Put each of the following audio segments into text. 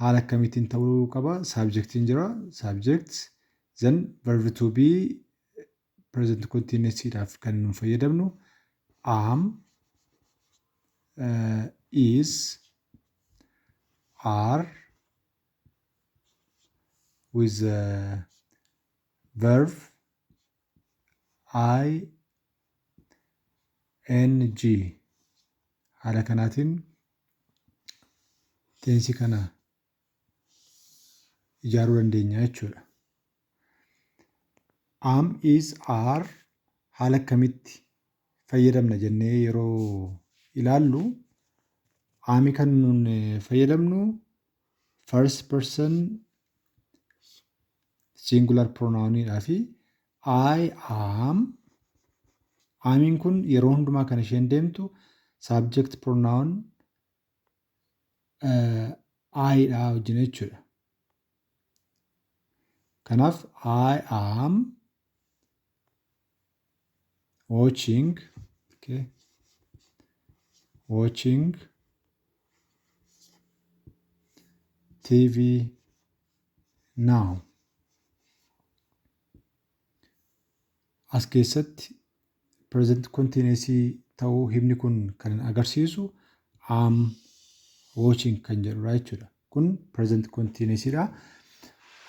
Haala akkamiitiin ta'uu qaba? Subject'n jira, subject, then verb to be present continuous dhaaf kan nu fayyadamnu am, uh, is, are with the verb I NG, Haala kanaatiin tensi kana ijaaruu dandeenya jechuudha. Am, is, are haala akkamitti fayyadamna jennee yeroo ilaallu ami kan nuun fayyadamnu first person singular pronoun dhaa fi I am Amiin kun yeroo hundumaa kan isheen deemtu subject pronoun I dha wajjin jechuudha. Kanaaf I am watching okay, watching TV now. As keessatti present continuous ta'uu himni kun kan agarsiisu am watching kan jedhudha jechuudha. Kun present continuous dha.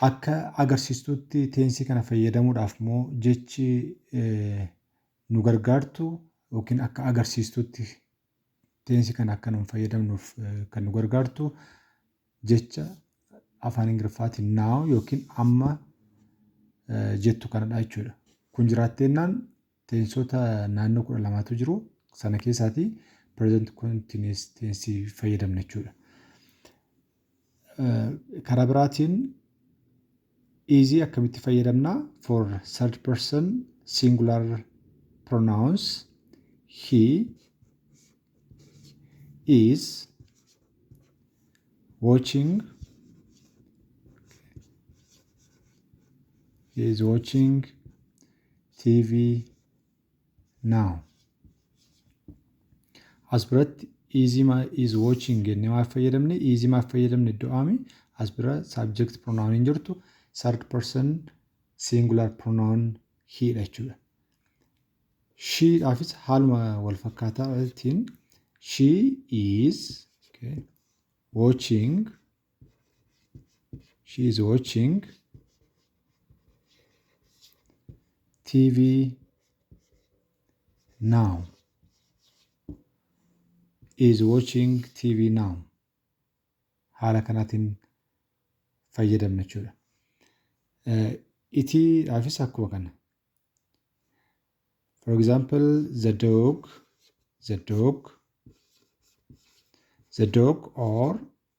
Akka agarsiistutti teensii kana fayyadamuudhaaf immoo jechi nu gargaartu yookiin akka agarsiistutti Teensi kana akka nun fayyadamnuuf kan nu gargaartu jecha afaan Ingiliffaatiin now yookiin amma jettu kanadha jechuudha. Kun jiraatteennaan teensota naannoo kudha lamaatu jiru. Sana keessaatii present continuous teensi fayyadamna jechuudha. Karaa biraatiin is akkamitti fayyadamna for third person singular pronouns he is watching he is watching TV now as biratti easy ma is watching jennee maaf fayyadamne easy maaf fayyadamne iddoo aami as bira subject pronoun hin jirtu third person singular pronoun he dha jechuudha. She dhaafis haaluma wal fakkaataa tiin she is okay, watching she is watching TV now is watching TV now haala kanaatiin fayyadamna jechuudha. Itii dhaafis akkuma kana. For example, the dog, the dog, the dog or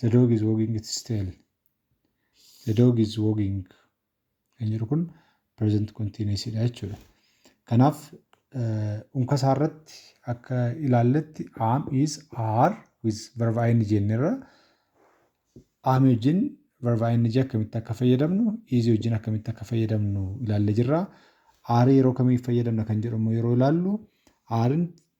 The dog is wagging its tail. The dog is wagging. Kan jedhu kun present continuous dha jechuudha. Kanaaf unka isaa irratti akka ilaalletti am is are with verb ing jennerra am wajjin verb ing akkamitti akka fayyadamnu is wajjin akkamitti akka fayyadamnu ilaallee jirra. Are yeroo kamiif fayyadamna kan jedhu immoo yeroo ilaallu arin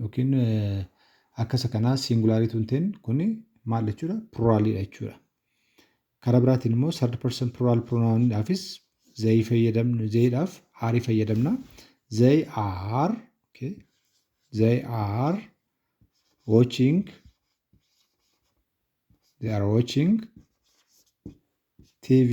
Yookiin akka isa kanaa singulaarii tun ten kun maal jechuudha? Pluraaliidha jechuudha. Karaa biraatiin immoo third person plural pronoun dhaafis they fayyadamna they dhaaf are fayyadamna. They are okay. They are watching they are watching TV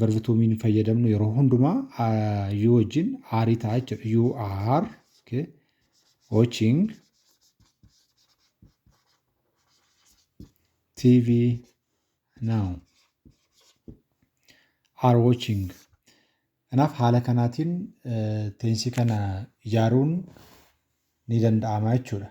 Verb to mean fayyadamnu yeroo hundumaa ah, you wajjin aarii ta'a jechuudha. You are okay, watching TV now. Are watching. Kanaaf haala kanaatiin eh, teensii kana ijaaruun ni danda'ama jechuudha.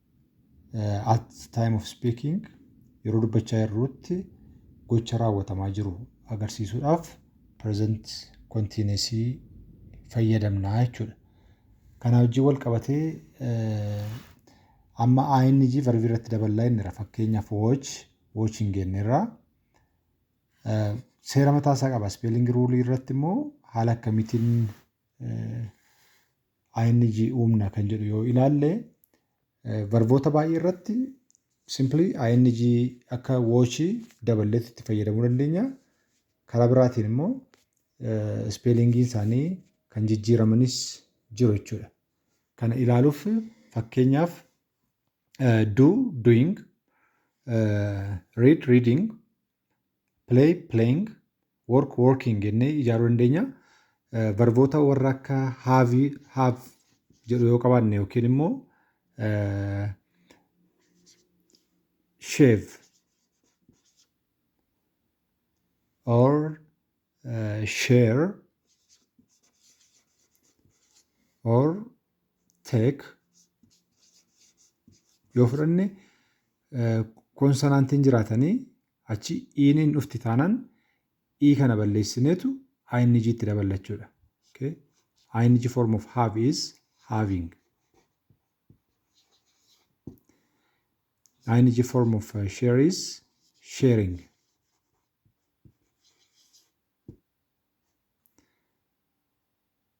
at time of speaking yeroo dubbachaa jirruutti gocha raawwatamaa jiru agarsiisuudhaaf present continuous fayyadamna jechuudha. Kana wajjin wal qabatee amma ING verbii irratti daballaa inniira fakkeenyaaf watch watching jenneerra. Seera mataa isaa qaba. Spelling rule irratti immoo haala akkamiitiin ing uumna kan jedhu yoo ilaalle varboota baay'ee irratti simply ing akka watch daballeetti itti fayyadamuu dandeenya. Karaa biraatiin immoo ispeelingiin isaanii kan jijjiiramanis jiru jechuudha. Kana ilaaluuf fakkeenyaaf do doing read reading play, playing, work, working jennee ijaaruu dandeenya. Eh, Varboota warra akka have, have jedhu yoo qabaanne yookiin immoo eh, shave or eh, share or teek yoo fudhanne koonsanaantiin jiraatanii achi iiniin dhufti taanaan ii kana balleessineetu ing itti daballa jechuudha. Okay. ing form of have is having. ing form of uh, share is sharing.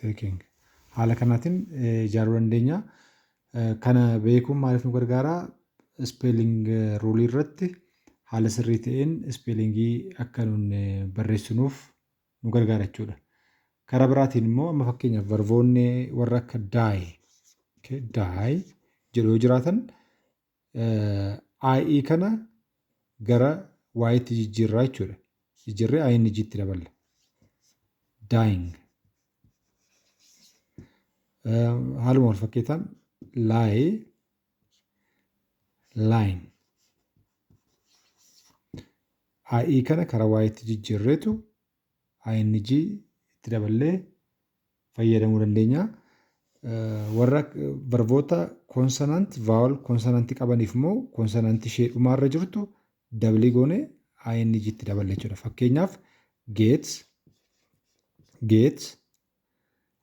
Taking. Haala kanaatiin ijaaruu dandeenya. Kana beekuun maaliif nu gargaara? Ispeeling ruulii irratti haala sirrii ta'een ispeelingii akka nun barreessinuuf nu gargaara jechuudha. Karaa biraatiin immoo amma fakkeenyaaf varvoonni warra akka die, die jedhu yoo jiraatan I kana gara ytti jijjiirraa jechuudha. Jijjiirree I inni jitti daballa. Dying. Haaluma wal fakkeetaan lie line. I kana karaa ytti jijjiirreetu ing itti daballee fayyadamuu dandeenya. Warra varboota konsonant vaawal konsonanti qabaniif immoo konsonanti ishee dhumaarra jirtu dabalii goone ing itti daballe jechuudha. Fakkeenyaaf geet geet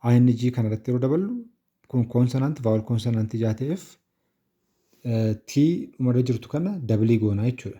ing kanarratti yeroo daballu kun konsonant vaawal konsonanti ijaa ta'eef tii dhumarra jirtu kana dabalii goonaa jechuudha.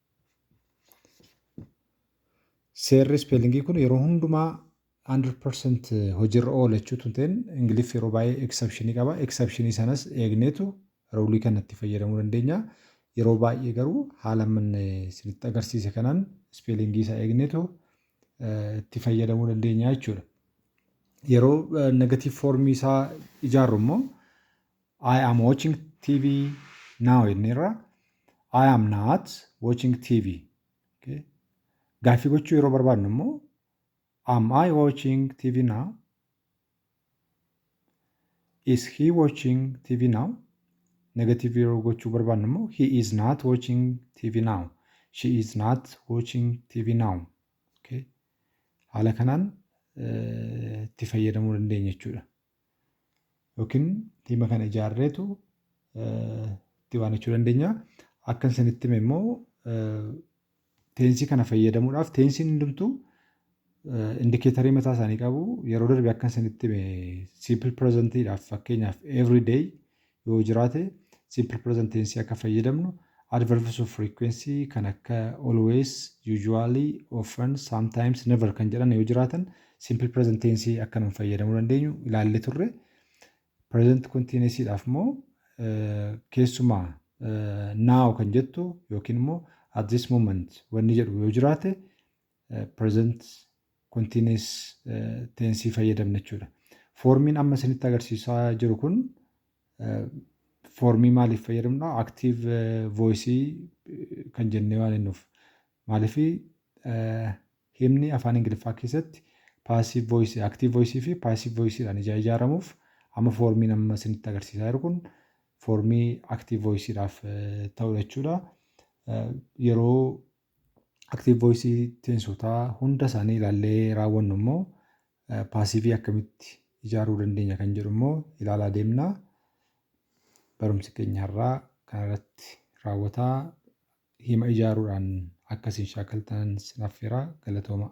Seerri ispeelingii kun yeroo hundumaa 100% hojiirra oola jechuu tun ta'in Ingiliffi yeroo baay'ee eksepshinii qaba. Eksepshinii sanas eegneetu ruulii kanatti fayyadamuu dandeenya. Yeroo baay'ee garuu haala manne isinitti agarsiise kanaan ispeelingii isaa eegneetu itti fayyadamuu dandeenya jechuudha. Yeroo negatiiv foormii isaa ijaarru immoo I am watching TV now jenneerra. I am not watching TV. Okay. Gaaffii gochuu yeroo barbaadnu immoo am I watching TV now? Is he watching TV now? Negative yeroo gochuu barbaadnu immoo he is not watching TV now. She is not watching TV now. Okay. Haala kanaan itti fayyadamuu dandeenya jechuudha. yookiin tiima kana ijaarreetu itti waanachuu dandeenya. Akkan isinitti hime immoo teensii kana fayyadamuudhaaf teensiin hundumtuu indikeetarii mataa isaanii qabu. Yeroo darbe akkan isinitti hime simple presentiidhaaf fakkeenyaaf every day yoo jiraate simple present tense akka fayyadamnu, adverbs of frequency kan akka always, usually, often, sometimes, never kan jedhan yoo jiraatan simple present tense akka nuun fayyadamuu dandeenyu ilaallee turre. Present continuous dhaaf immoo keessumaa now kan jettu yookiin immoo at this moment wanni jedhu yoo jiraate present continuous tensii fayyadamna jechuudha. Foormiin amma isinitti agarsiisaa jiru kun foormii maaliif fayyadamna? Active voice kan jennee waan jennuuf. Maaliif himni afaan Ingiliffaa keessatti paasiv voice, active voice fi paasiv voice dhaan ijaa ijaaramuuf amma foormiin amma isinitti agarsiisaa jiru kun foormii active voice dhaaf ta'udha jechuudha. Yeroo Active voice teensotaa hunda isaanii ilaallee raawwannu immoo paasiivii akkamitti ijaaruu dandeenya kan jedhu immoo ilaalaa deemna. Barumsi keenya har'aa kanarratti raawwataa hima ijaaruudhaan akka isin shaakaltan sin affeera galatoomaa.